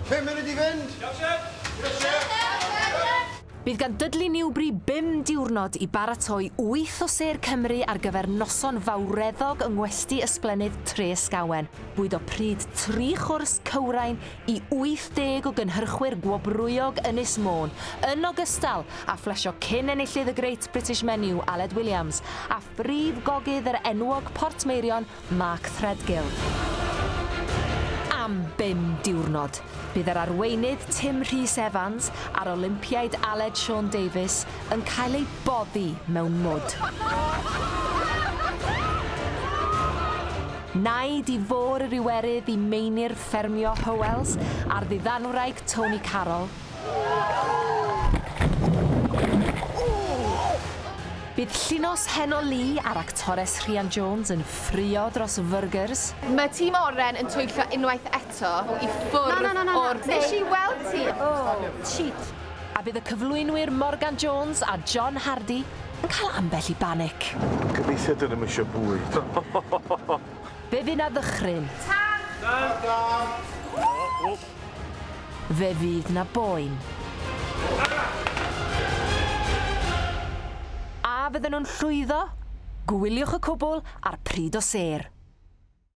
Pum munud i fynd! Iawn, Siep! Diolch, Siep! Bydd gan Dudley Newbury bum diwrnod i baratoi wyth o sêr Cymru ar gyfer noson fawreddog yng ngwesty Ysblennydd Treysgawen. Bwydo pryd tri chwrs cywrain i 80 o gynhyrchwyr gwobrwyog Ynys Môn, yn ogystal â phlesio cyn enillydd y Great British Menu, Aled Williams, a Brif gogydd yr enwog Portmeirion, Mark Threadgill. Am bum diwrnod, bydd yr arweinydd Tim Rhys Evans a'r Olympiaid Aled Siôn Davies yn cael eu boddi mewn mwd. Naid i fôr yr Iwerydd i meini'r ffermio Howells a'r ddiddanwraig Tony Carroll, Bydd llinos heno Lee a'r actores Rhian Jones yn ffruo dros fyrgyrs. Mae tîm Oren yn twyllo unwaith eto i ffwrdd o'r... Na, na, na, na, na. Nes i weld ti! Oh, cheat. A bydd y cyflwynwyr Morgan Jones a John Hardy yn cael ambell i banic? Gobeithio dyn nhw'm isio bwyd. Fe fu 'na ddychryn. Tan! Tan! Fe fydd 'na boen. A fydden nhw'n llwyddo? Gwyliwch y cwbl ar pryd o sêr.